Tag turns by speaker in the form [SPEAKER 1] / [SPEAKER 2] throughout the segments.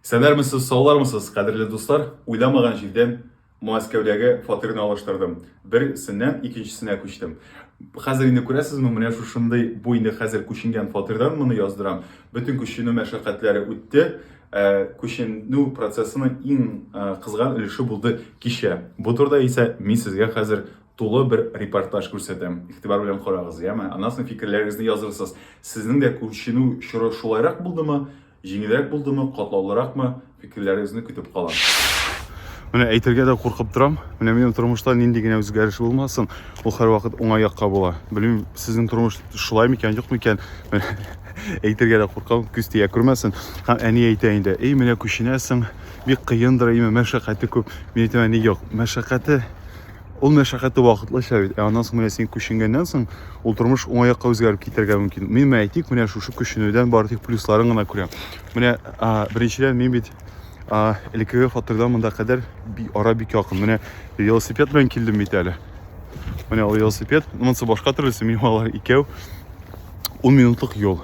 [SPEAKER 1] Сәләрмесез, саулармысыз, кадерле дуслар! Уйламаган җирдән Мәскәүдәге фатирны алыштырдым. Берсеннән икенчесенә күчтем. Хәзер инде күрәсезме, менә шушындый бу инде хәзер күченгән фатирдан моны яздырам. Бөтен күченү мәшәкатьләре үтте. Ә, күченү процессының иң ә, кызган өлеше булды кичә. Бу турыда исә мин сезгә хәзер тулы бер репортаж күрсәтәм. Игътибар белән карагыз, яме. Аннан соң фикерләрегезне язырсыз. Сезнең дә күченү чоры шулайрак булдымы? Җиңелрәк булдымы, катлаулыракмы, фикерләрегезне көтеп калам. Менә әйтергә дә куркып торам. Менә минем тормышта нинди генә үзгәреш булмасын, ул һәрвакыт уңай якка була. Белмим, сезнең тормыш шулай микән, юк микән? Әйтергә дә куркам, күз тия күрмәсен. Һәм әни әйтә инде, "Эй, менә күченәсең, бик кыендыр, әйме, мәшәкате күп". Мин әйтәм, "Әни, юк, мәшәкате Ул мәшәкате вакытлыча бит, ә аннан соң менә син күченгәннән соң ул тормыш уңаякка үзгәреп китәргә мөмкин. Мин менә әйтик, менә шушы күченүдән бары тик плюсларын гына күрәм. Менә беренчедән мин бит элеккеге фатирдан монда кадәр ара бик якын. Менә велосипед белән килдем бит әле. Менә ул велосипед, монысы башка төрлесе, минем алар икәү. 10 минутлык юл.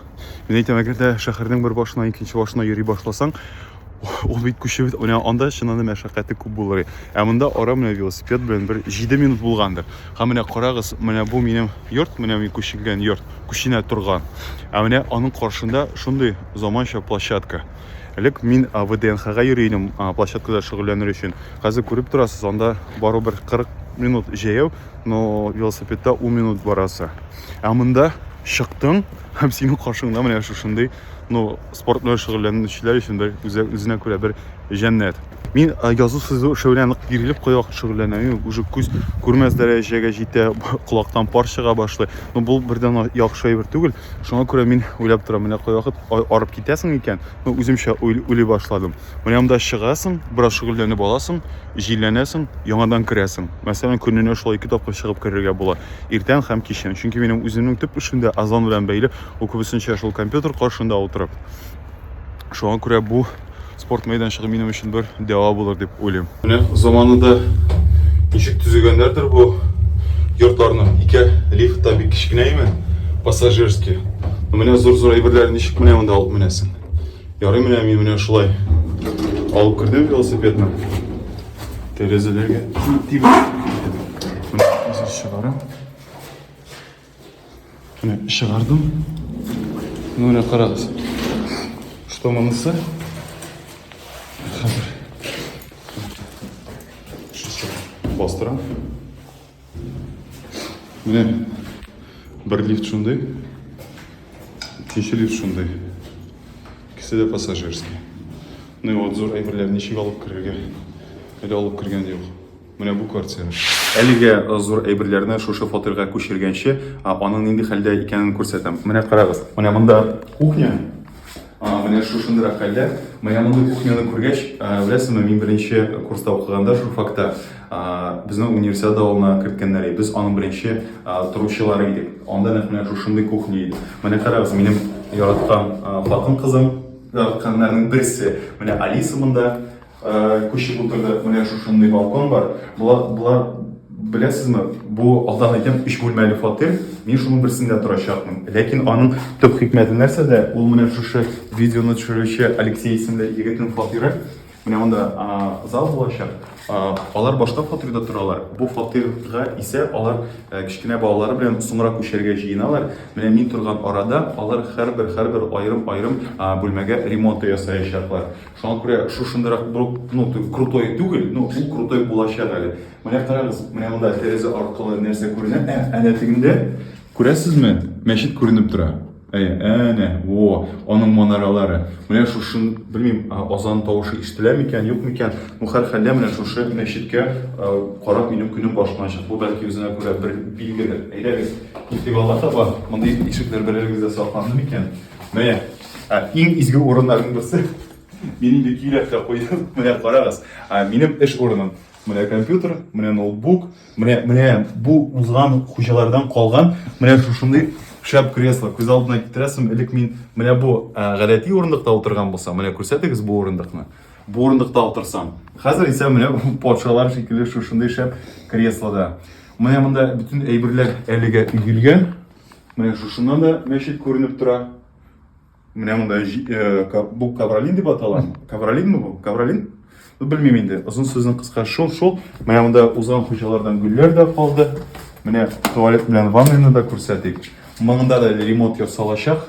[SPEAKER 1] Мин әйтәм, әгәр дә шәһәрнең бер башына икенче башына йөри башласаң, Ул бит күчеп, менә анда чыннан да мәшәкате күп булыр. Ә монда ара менә велосипед белән бер 7 минут булгандыр. Һәм менә карагыз, менә бу минем йорт, менә мин күченгән йорт, күченә торган. Ә менә аның каршында шундый заманча площадка. Элек мин ВДНХга йөри идем, площадкада шөгыльләнер өчен. Хәзер күреп торасыз, анда барыбер 40 минут җәяү, но велосипедта 10 минут барасы. Ә монда чыктың һәм синең каршыңда менә шушындый ну спорт белән шөгыльләнүчеләр өчен бер үзе, үзенә күрә бер җәннәт мин язу сызу эше белән нык бирелеп кая вакыт шөгыльләнәм уже күз күрмәс дәрәҗәгә җитә колактан пар чыга башлый ну бу бердән яхшы әйбер түгел шуңа күрә мин уйлап торам менә кая вакыт арып китәсең икән ну үземчә уйлый башладым менә монда чыгасың бераз шөгыльләнеп аласың җилләнәсең яңадан керәсең мәсәлән көненә шулай ике тапкыр чыгып керергә була иртән һәм кичен чөнки минем үземнең төп эшем дә азан белән бәйле Ул күбесенчә шул компьютер каршында утырып. Шуңа күрә бу спорт мәйданчыгы минем өчен бер дәва булыр дип уйлыйм. Менә заманында ничек төзегәннәрдер бу йортларны. Ике лифт та бик кечкенә име, пассажирский. Менә зур-зур әйберләр ничек менә монда алып менәсең. Ярый менә мин менә шулай алып кердем велосипедны. Тәрәзәләргә тибеп. Менә чыгарам. Менә чыгардым. Ну, менә карагыз. Что монысы? Хәзер. Бастырам. Менә бер лифт шундый. Икенче лифт шундый. Икесе дә пассажирский. Ну и вот зур әйберләр ничек алып керергә? Әле алып кергән юк. Менә бу квартира. Әлегә зур әйберләрне шушы фатирга күчергәнче, аның нинди хәлдә икәнен күрсәтәм. Менә карагыз, менә монда кухня, менә шушындырак хәлдә. Менә мондый кухняны күргәч, беләсезме, мин беренче курста укыганда журфакта безнең универсиада алына керткәннәр иде. Без аның беренче торучылары идек. Анда нәкъ менә шушындый кухня иде. Менә карагыз, минем яраткан хатын-кызым, яратканнарның берсе. Менә Алиса монда. Күчеп утырдык, менә шушындый балкон бар. Болар, болар беләсезме, бу алдан әйтәм, өч бүлмәле фатир. Мин шуның берсендә торачакмын. Ләкин аның төп хикмәте нәрсәдә? Ул менә шушы видеоны төшерүче Алексей исемле егетнең фатиры. Менә монда зал булачак. Алар башка фатирда торалар. Бу фатирга исә алар кечкенә балалары белән соңрак күчәргә җыеналар. Менә мин торган арада алар һәрбер һәрбер аерым-аерым бүлмәгә ремонт ясаячаклар. Шуңа күрә шушындыйрак брук, ну, ту, крутой түгел, ну, ул крутой булачак әле. Менә карагыз, менә монда тәрәзә аркылы нәрсә күренә? Ә, әнә тегендә, күрәсезме, мәчет күренеп тора. Әйе, әнә, во, аның манаралары. Менә шушын, белмим, азан тавышы ишетелә микән, юк микән, ну, һәрхәлдә менә шушы мәчеткә карап минем көнем башланачак. Бу бәлки үзенә күрә бер билгедер. Әйдәгез, китик алга таба. Мондый ишекләр берәрегездә сакланды микән? Менә, ә, иң изге урыннарның берсе. Мин инде көйләп тә куйдым. Менә карагыз, ә, минем эш урыным. Менә компьютер, менә ноутбук, менә менә бу узган хуҗалардан калган менә шушындый шәп кресло. Күз алдына китерәсем, элек мин менә бу ә, гадәти урындыкта утырган булсам, менә күрсәтегез бу урындыкны. Бу урындыкта утырсам. Хәзер исә менә патшалар шикелле шушындый шәп креслода. Менә монда бөтен әйберләр әлегә өелгән. Менә шушыннан да мәчет күренеп тора. Менә монда э, бу Кавролин дип атала. Кавролинме бу? Кавролин? Ну, белмим инде. Озын сүзнең кыска шул, шул. Менә монда узган хуҗалардан гөлләр дә калды. Менә туалет белән ваннаны да күрсәтик. Монда да ремонт ясалачак.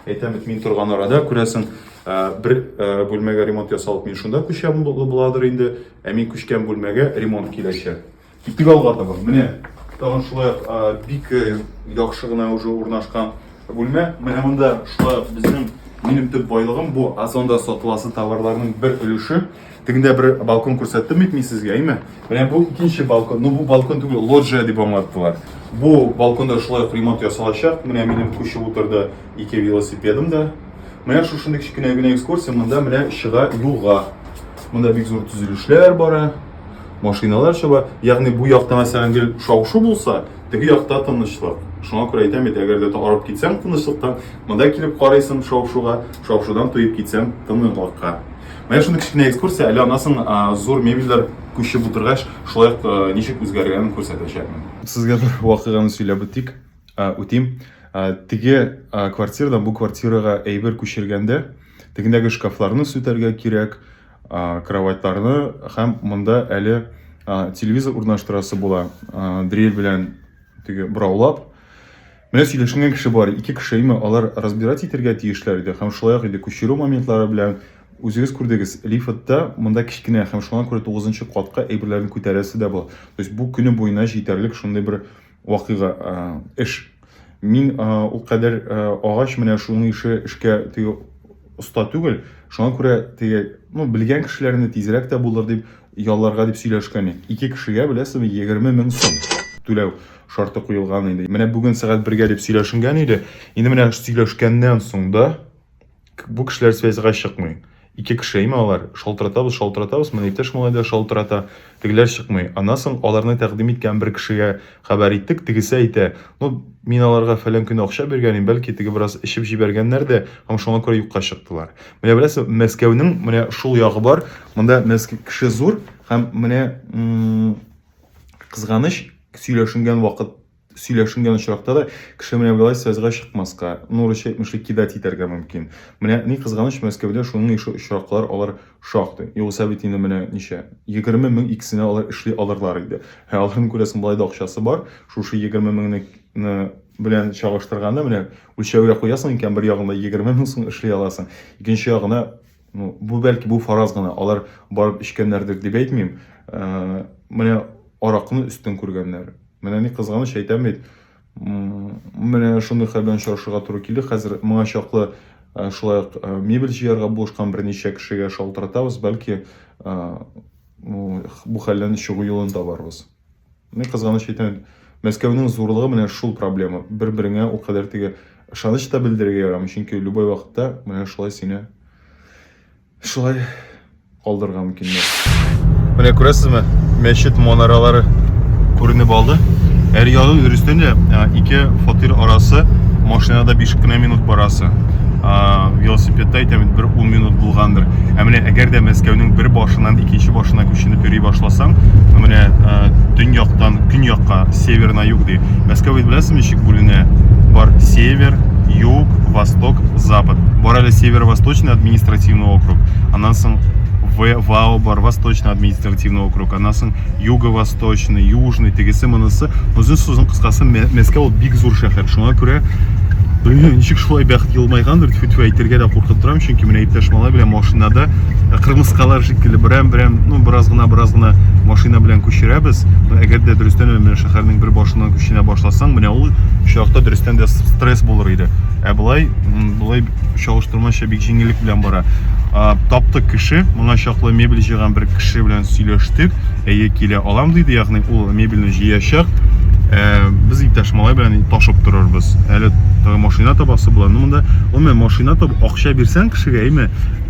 [SPEAKER 1] Әйтәм бит, мин торган арада, күрәсең, э, бер э, бүлмәгә ремонт ясалып, мин шунда күчәм буладыр инде. Ә мин күчкән бүлмәгә ремонт киләчәк. Китик алга таба. Менә тагын шулай бик яхшы гына уже урнашкан бүлмә. Менә монда шулай безнең минем төп байлыгым бу Озонда сатыласы товарларның бер өлеше. Тегендә бер балкон күрсәттем бит мин сезгә, әйме? Менә бу икенче балкон. Ну бу балкон түгел, лоджия дип аңлаттылар. Бу балконда шулай ук ремонт ясалачак. Менә минем күчеп утырды ике велосипедым да. Менә шушындый кечкенә генә экскурсия монда менә чыга юлга. Монда бик зур төзелешләр бара. машиналар чаба ягъни бу якта мәсәлән гел шау-шу булса теге якта тынычлык шуңа күрә әйтәм бит әгәр дә арып китсәң тынычлыктан монда килеп карыйсың шау-шуга шау-шудан туеп китсәң тынычлыкка менә шундый кечкенә экскурсия әле аннан соң зур мебельләр күчеп утыргач шулай ук ничек үзгәргәнен күрсәтәчәкмен сезгә бер вакыйганы сөйләп үтик үтим теге квартирадан бу квартирага әйбер күчергәндә тегендәге шкафларны сүтәргә кирәк кроватьларны һәм монда әле телевизор урнаштырасы була дрель белән теге бораулап менә сөйләшенгән кеше бар ике кеше именно алар разбирать итәргә тиешләр иде һәм шулай ук инде күчерү моментлары белән үзегез күрдегез лифтта монда кечкенә һәм шуңа күрә тугызынчы катка әйберләрен күтәрәсе дә була то есть бу көне буена җитәрлек шундый бер вакыйга, эш. Мин ул кадәр агач менә шуның ише эшкә теге оста түгел. Шуңа күрә теге, ну, белгән кешеләрне тизрәк тә булыр дип ялларга дип сөйләшкән идек. Ике кешегә беләсезме 20 мең сум түләү шарты куелган иде. Менә бүген сәгать бергә дип сөйләшенгән иде. Инде менә сөйләшкәннән соң да Бу кешеләр связьга чыкмый. Ике кеше әйме алар? Шалтыратабыз, шалтыратабыз, менә иптәш малай да шалтырата. Тегеләр чыкмый. Аннан соң аларны тәкъдим иткән бер кешегә хәбәр иттек, тегесе әйтә, ну, мин аларга фәлән көне акча биргән идем, бәлки теге бераз эчеп җибәргәннәр дә, һәм шуңа күрә юкка чыктылар. Менә беләсез, Мәскәүнең менә шул ягы бар. Монда Мәскәү кеше зур һәм менә кызганыч сөйләшенгән вакыт сөйләшенгән очракта да кеше менә болай связьга чыкмаска, нуры чәкмешли кидать итәргә мөмкин. Менә ни кызганыч, Мәскәүдә шуның ише очраклар алар шактый. Югыйсә бит инде менә ничә, егерме мең икесенә алар эшли алырлар иде. Ә аларның күрәсең болай да акчасы бар, шушы егерме меңне белән чагыштырганда менә үлчәүгә куясың икән, бер ягында егерме мең сум эшли аласың, икенче ягына Ну, бу бәлки бу фараз гына, алар барып эчкәннәрдер дип әйтмим. Ә, менә аракны өстен күргәннәр. Менә ни кызганыч әйтәм бит. Менә шундый хәл белән очрашырга туры килде. Хәзер моңа чаклы ә, шулай ук ә, мебель җыярга булышкан берничә кешегә шалтыратабыз, бәлки ә, бу хәлдән чыгу юлын табарбыз. Ни кызганыч икән, Мәскәүнең зурлыгы менә шул проблема. Бер-береңә ул кадәр теге ышаныч та белдерергә ярамый, чөнки любой вакытта менә шулай сине шулай калдырырга мөмкиннәр. Менә күрәсезме, мәчет манаралары күренеп алды. Әр ягы дөрестән дә ике фатир арасы машинада 5 кенә минут барасы. Велосипедта әйтәм, бер 10 минут булгандыр. Ә менә әгәр дә Мәскәүнең бер башыннан икенче башына күченеп йөри башласаң, менә э, төньяктан көньякка север на юг ди. Мәскәү бит беләсезме ничек бүленә? Бар север, юг, восток, запад. Бар әле северо-восточный административный округ. Аннан соң ВАО бар, Восточный административный округ, аннан соң Юго-Восточный, Южный, тегесе монысы. Озын сүзен кыскасы Мәскәү ул бик зур шәһәр. Шуңа күрә Блин, ничек шулай бәхет елмайгандыр, тьфу-тьфу, әйтергә дә куркып торам, чөнки менә иптәш малай белән машинада э, кырмыскалар шикелле берәм берәм ну бераз гына бераз гына машина белән күчерәбез но әгәр дә дөрестән дә менә шәһәрнең бер башыннан күченә башласаң менә ул очракта дөрестән дә стресс булыр иде ә болай болай чалыштырмача бик җиңеллек белән бара таптык кеше моңа чаклы мебель җыйган бер кеше белән сөйләштек әйе килә алам диде ягъни ул мебельне җыячак Э, без иптәш малай белән ташып торырбыз әле машина табасы була ну монда гомумән машина табып акча бирсәң кешегә әйме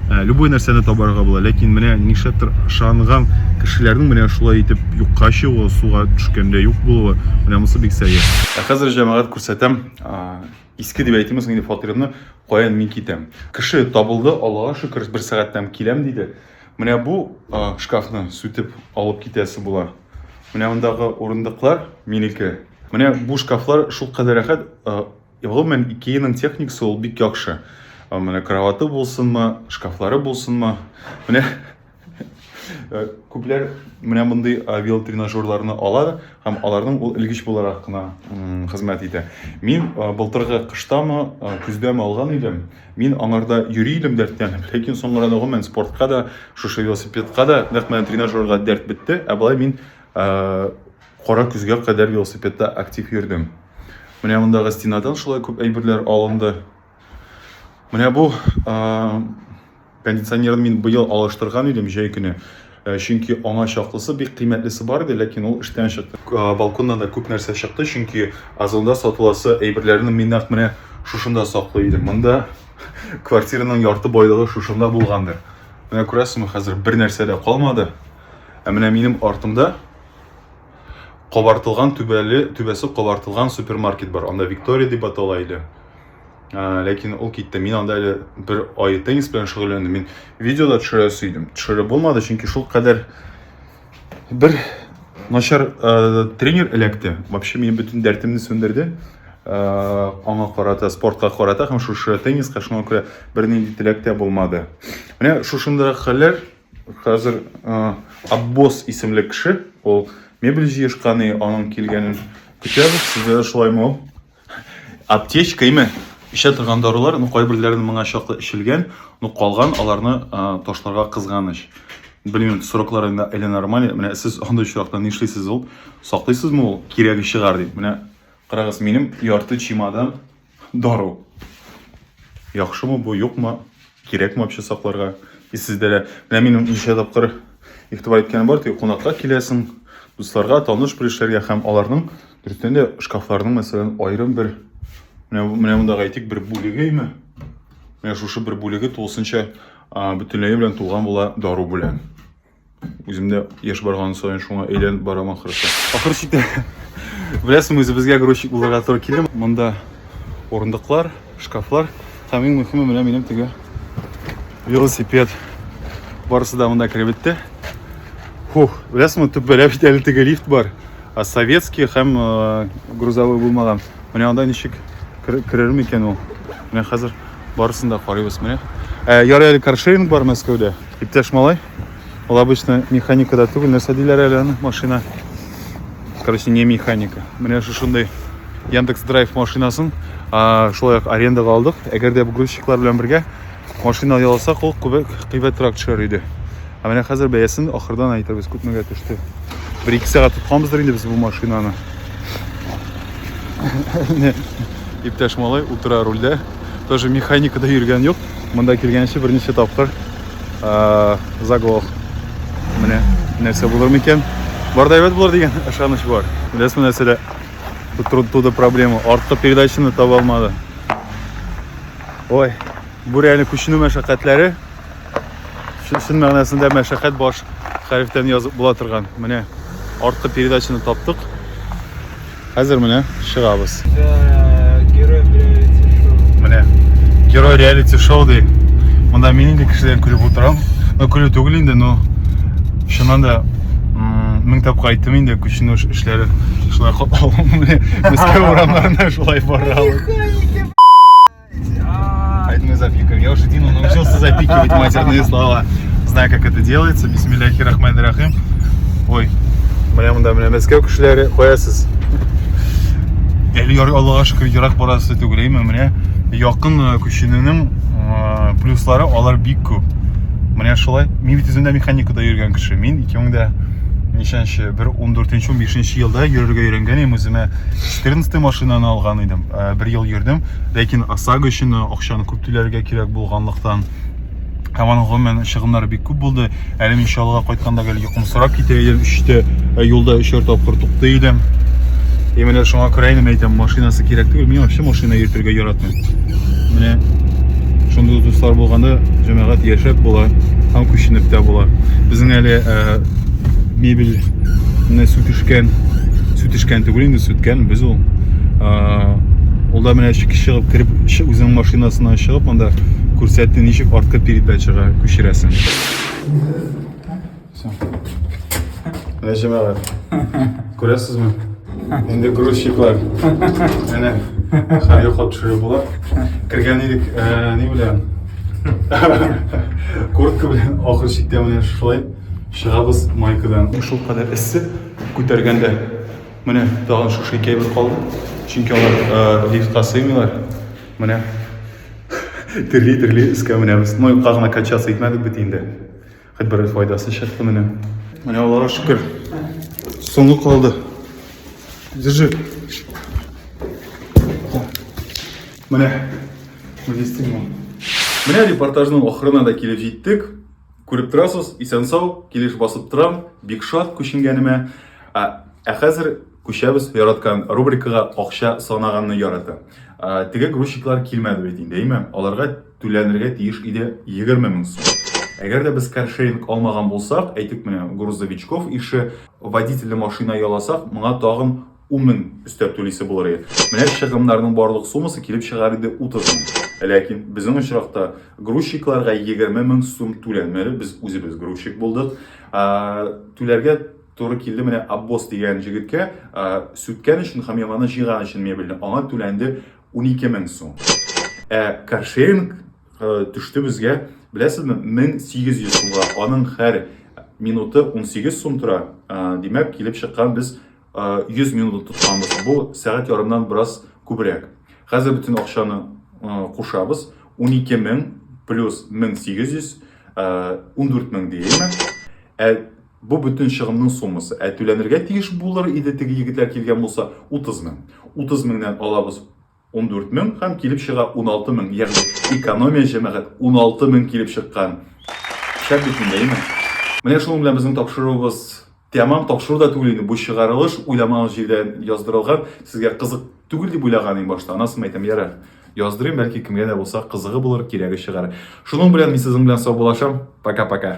[SPEAKER 1] Ә, любой нәрсәне табарга була, ләкин менә нишләптер ышанган кешеләрнең менә шулай итеп юкка чыгуы, суга төшкәндә юк булуы, менә монысы бик сәер. Ә хәзер җәмәгать күрсәтәм, иске дип әйтимме соң инде фатирымны, каян мин китәм. Кеше табылды, Аллага шөкер, бер сәгатьтән киләм диде. Менә бу шкафны сүтеп алып китәсе була. Менә мондагы урындыклар минеке. Менә бу шкафлар шулкадәр рәхәт, Гомумән, Икеяның техникасы ул бик яхшы. Менә кроваты булсынмы, шкафлары булсынмы. Менә э, күпләр менә мондый э, велотренажерларны ала һәм аларның ул элгеч буларак кына хезмәт итә. Мин э, былтыргы кыштамы, көздәме алган идем. Мин аңарда йөри идем дәртләнеп, ләкин соңгы арада гомумән спортка да, шушы велосипедка да, нәкъ менә тренажерга дәрт бетте. Ә болай мин Кара көзгә кадәр велосипедта актив йөрдем. Менә мондагы стенадан шулай күп әйберләр алынды. Менә бу кондиционерны мин быел алыштырган идем җәй көне. Э, чөнки аңа чаклысы бик кыйммәтлесе бар иде ләкин ул эштән чыкты э, балконнан да күп нәрсә чыкты чөнки озонда сатыласы әйберләрне мин нәкъ менә шушында саклый идем монда квартираның ярты байлыгы шушында булгандыр менә күрәсезме хәзер бер нәрсә дә калмады ә менә минем артымда кабартылган түбәле түбәсе кабартылган супермаркет бар анда виктория дип атала иде ә, ләкин ул китте мин анда әле бер ай теннис белән шөгыльләндем мин видеода төшерәсе идем төшереп булмады чөнки шул кадәр бер начар ә, тренер эләкте вообще минем бөтен дәртемне сүндерде ә, аңа карата спортка карата һәм шушы тенниска шуңа күрә бернинди теләктә булмады менә шушындый хәлләр Хәзер Аббос исемле кеше, ул мебель җыешканы, аның килгәнен көтәбез. Сезгә дә шулаймы ул? Аптечка име? Эчә торган дарулар, ну кайберләрен моңа чаклы эчелгән, ну калган аларны ташларга кызганыч. Белмим, сроклар инде әле нормаль. Менә сез андый очракта нишлисез ул? Саклыйсызмы ул? Кирәге чыгар дип. Менә карагыз, минем ярты чемодан Дару. Яхшымы бу, юкмы? Кирәкме вообще сакларга? И сездә дә менә минем ничә тапкыр игътибар иткәнем бар, теге кунакка киләсең, дусларга, таныш белешләргә һәм аларның дөрестән дә шкафларның, мәсәлән, аерым бер менә менә монда әйтик бер бүлегеме? Менә шушы бер бүлеге тулысынча бөтенләй белән тулган була дару белән. Үземдә яшь барган саен шуңа әйләнеп барам ахырсы. Ахырсы итә. Беләсең, үзебезгә грузчик булырга туры килде. Монда урындыклар, шкафлар һәм иң мөһиме менә минем теге велосипед. Барысы да монда кереп бетте. Хух, беләсеңме, төббәләп бит әле теге лифт бар. А советский һәм э, грузовой булмаган. Менә анда ничек керер микән ул? Менә хәзер барысын да карыйбыз менә. Э, ярый әле каршеринг бар Мәскәүдә. Иптәш малай, ул обычно механикада түгел, нәрсә диләр әле аны, машина. Короче, не механика. Менә шушындый Яндекс Драйв машинасын шулай ук арендаға алдык. Әгәр дә грузчиклар белән бергә машина ялсак, ул кыйбатрак төшәр иде. Ә менә хәзер бәясен ахырдан әйтербез, күпмегә төште. Бер ике сәгать тотканбыздыр инде без бу машинаны. Иптәш малай утыра рульдә. тоже механика да йөргән юк монда килгәнче берничә тапкыр ә, заглох менә нәрсә булыр микән бар да әйбәт булыр дигән ышаныч бар беләсезме нәрсәдә туда проблема артка передачаны таба алмады ой бу реально күченү мәшәкатьләре чын мәгънәсендә мәшәкать баш хәрефтән язып була торган. Менә арткы передачаны таптык. Хәзер менә чыгабыз. Герой реалити шоу. Менә герой реалити шоу ди. Монда мин инде кешеләрен күреп утырам. Ну, күрү түгел инде, но чыннан да мең тапкыр айттым инде күченү эшләре шулай катлаулы. Мәскәү урамнарында шулай бара. Поэтому я запикаю. Я уже Дину научился запикивать матерные слова. Знаю, как это делается. Бисмилляхи рахмани рахим. Ой, бля, мында менә Мәскәү кешеләре куясыз. Әле Аллага шөкер ерак барасы түгелме менә якын э, күченүнең э, плюслары алар бик күп. Менә шулай. Мин бит үземдә механикада йөргән кеше. Мин 2000 дә ничәнче бер 14 нче 15 елда йөрергә өйрәнгән идем үземә 14 машинаны алган идем э, бер ел йөрдем ләкин осаго өчен акчаны күп түләргә кирәк булганлыктан һәм аның гомумән чыгымнары бик күп булды әле мин чаллыга кайтканда гел йокымсырап китә идем өчтә э, юлда өчәр тапкыр туктый идем и менә шуңа күрә инде әйтәм машинасы кирәк түгел мин вообще машина йөртергә яратмыйм менә шундый дуслар булганда җәмәгать яшәп була һәм күченеп тә була безнең әле э, мебель сүтешкән төшкән түгел инде сүткән без ул ул да менә чыгып кереп үзенең машинасына чыгып анда күрсәтте ничек арткы передачага күчерәсең менә җәмәгать күрәсезме инде грузчиклар менә хәл йоклап төшереп була кергән идек ни белән куртка белән ахыр чиктә менә шулай чыгабыз майкадан шулкадәр эссе Күтәргәндә менә тагын шушы икәй бер калды. Чөнки алар лифтка сыймыйлар. Менә терли-терли өскә менәбез. Ну, юкка гына качаться итмәдек бит инде. Хоть бер файдасы чыкты менә. Менә Аллага шөкер. Соңгы калды. Держи. Менә. Менә репортажның ахырына да килеп җиттек. Күреп торасыз, исән-сау, килеш басып торам, бик шат күченгәнемә. Ә, ә хәзер күчәбез яраткан рубрикага акча санаганны ярата. Ә, теге грузчиклар килмәде бит инде, әйме? Аларга түләнергә тиеш иде 20 мең сум. Әгәр дә без каршеринг алмаган булсак, әйтик менә грузовичков ише водительле машина яласак, моңа тагын 10 мең өстәп түлисе булыр иде. Менә чыгымнарның барлык суммасы килеп чыгар иде 30 мең. Ләкин безнең очракта грузчикларга 20 мең сум түләнмәде. Без үзебез грузчик булдык. Түләргә туры килде менә Аббос дигән җегеткә сүткән өчен һәм яңаны җыйган өчен мебельне. Аңа түләнде 12 мең сум. Ә каршеринг төште безгә, беләсезме, 1800 сумга. Аның һәр минуты 18 сум тора. Димәк, килеп чыккан без 100 э, минут тотканбыз. Бу сәгать ярымнан бераз күбрәк. Хәзер бөтен акчаны э, кушабыз. 12 мең плюс 1800, 14 мең дияйме. Ә бу бөтен чыгымның суммасы. Ә түләнергә тиеш булыр иде теге егетләр килгән булса 30 мең. 30 меңнән алабыз 14 мең һәм килеп чыга 16 мең, ягъни экономия җәмәгать 16 мең килеп чыккан. Шәп бит инде, әйме? Менә шуның белән безнең тапшыруыбыз тәмам тапшыру да түгел инде, бу чыгарылыш уйламагыз җирдә яздырылган, сезгә кызык түгел дип уйлаган иң башта, анасын әйтәм, ярар. Яздырыйм, бәлки кемгә дә булса кызыгы булыр, кирәге чыгар. Шуның белән мин сезнең белән саубулашам, пока-пока.